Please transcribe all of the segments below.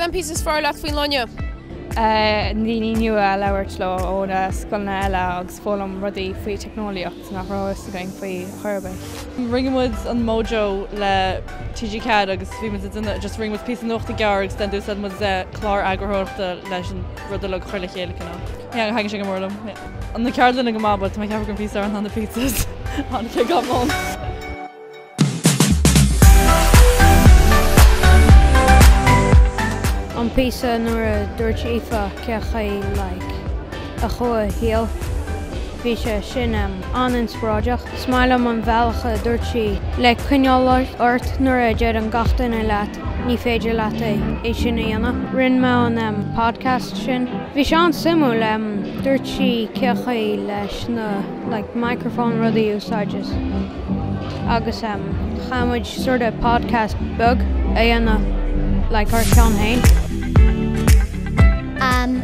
Cén píosa is fearr leat faoin loinne? Daoine nua a labhairt leo ó na scoileanna eile agus foghlaim rudaí faoi teicneolaíocht nach raibh a fhios againn faoi chor ar bith. Rinne muid an Mojo le TG4 agus bhí muid ag déanamh, just rinne muid píosa nuachta gearr agus den dtús a bhí muid ag úsáid clár eagarthóireachta leis an rud uile a chur le chéile, you know. Yeah, thaitin sé go mór liom. Yeah. Na ceardlanna go maith, but tá mé ag ceapadh go raibh pizza ar na, the pizzas. Tháinig sé gan mhoill. An píosa nuair a dúirt Aoife cé chaoi like a chuaigh a saol. Bhí sé sin an-inspioráideach. Is maith liom an bhealach a dúirt sí le coinneáil ort nuair a deireann gach duine leat ní féidir leat é sin a dhéanamh. Rinne mé an podcast sin. Bhí sé an-suimiúil. Dúirt sí cé chaoi leis na like microphone rudaí a úsáid agus chaith muid sort of podcast beag a dhéanamh like ár cheann féin.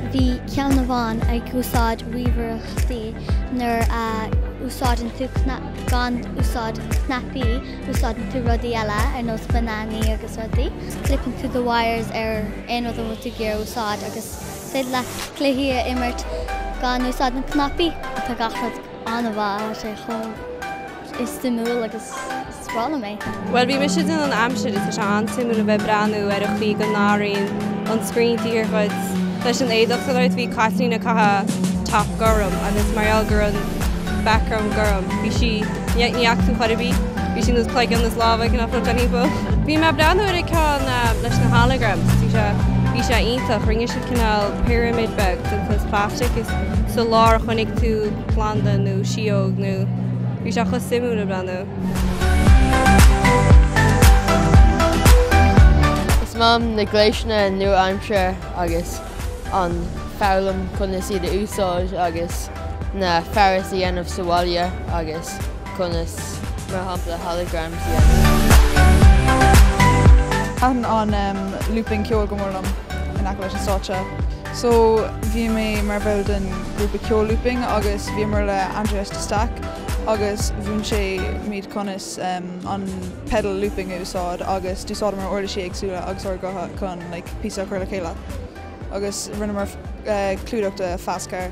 Bhí ceann amháin ag úsáid ríomhaireachtaí nuair a úsáideann tú, gan úsáid cnaipí úsáideann tú rudaí eile ar nós bananaí agus rudaí. Clipeann tú the wires ar aon rud a bhfuil tú ag iarraidh a úsáid agus is féidir leat cluichí a imirt gan úsáid na cnaipí. Tá gach rud an-mhaith, tá sé chomh. suimiúil agus is breá liom é. Bhuel, bhí mise ag déanamh an aimsir is tá sé an-suimiúil a bheith ag breathnú ar an chaoi go n-athraíonn an screen taobh thiar dhuit. Leis an éadach, so like, bhí Caitlín ag caitheamh top gorm agus mar gheall gur an background gorm, bhí sí, ní fhaca tú í chor ar bith, bhí sí nós cloigeann is lámha ag goil timpeall. Bhí mé ag breathnú ar an ceann leis na holograms, bhí sé, bhí sé iontach, rinne siad cineál pyramid beag den saghas plastic is sa lár choinnigh tú planda nó síóg nó. Bhí sé chomh suimiúil ag breathnú. Is maith liom na gléasanna nua-aimseartha agus an foghlaim conas iad a úsáid agus na fearais a dhéanamh sa bhaile agus conas mar shampla holograms a dhéanamh. Thaitin an looping ceoil go mór liom in aice leis an stáitse. So bhí mé mar bhall den ghrúpa ceoil Looping agus bhíomar le Andreas de Staic agus mhúin sé muid conas an pedal looping a úsáid agus d'úsáideamar uirlisí éagsúla agus ár gutha chun like píosa a chur le chéile agus rinneamar clúdach de Fast Car.